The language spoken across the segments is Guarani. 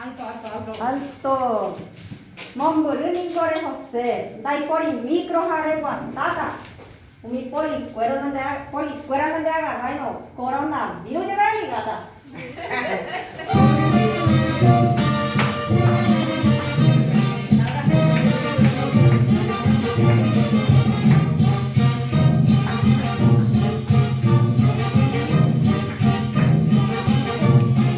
Alto! Mombyry niko rehose, ndaipóri micro ha reguatáta umi polikuéro nande, polikuéra nande agarráirõ coronavirus jepe religáta.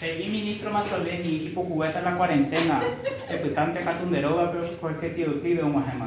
He'i ministro Mazzoleni ipukuéta la cuarentena epytánte katu nde rógape porque tieuclide oguahẽma.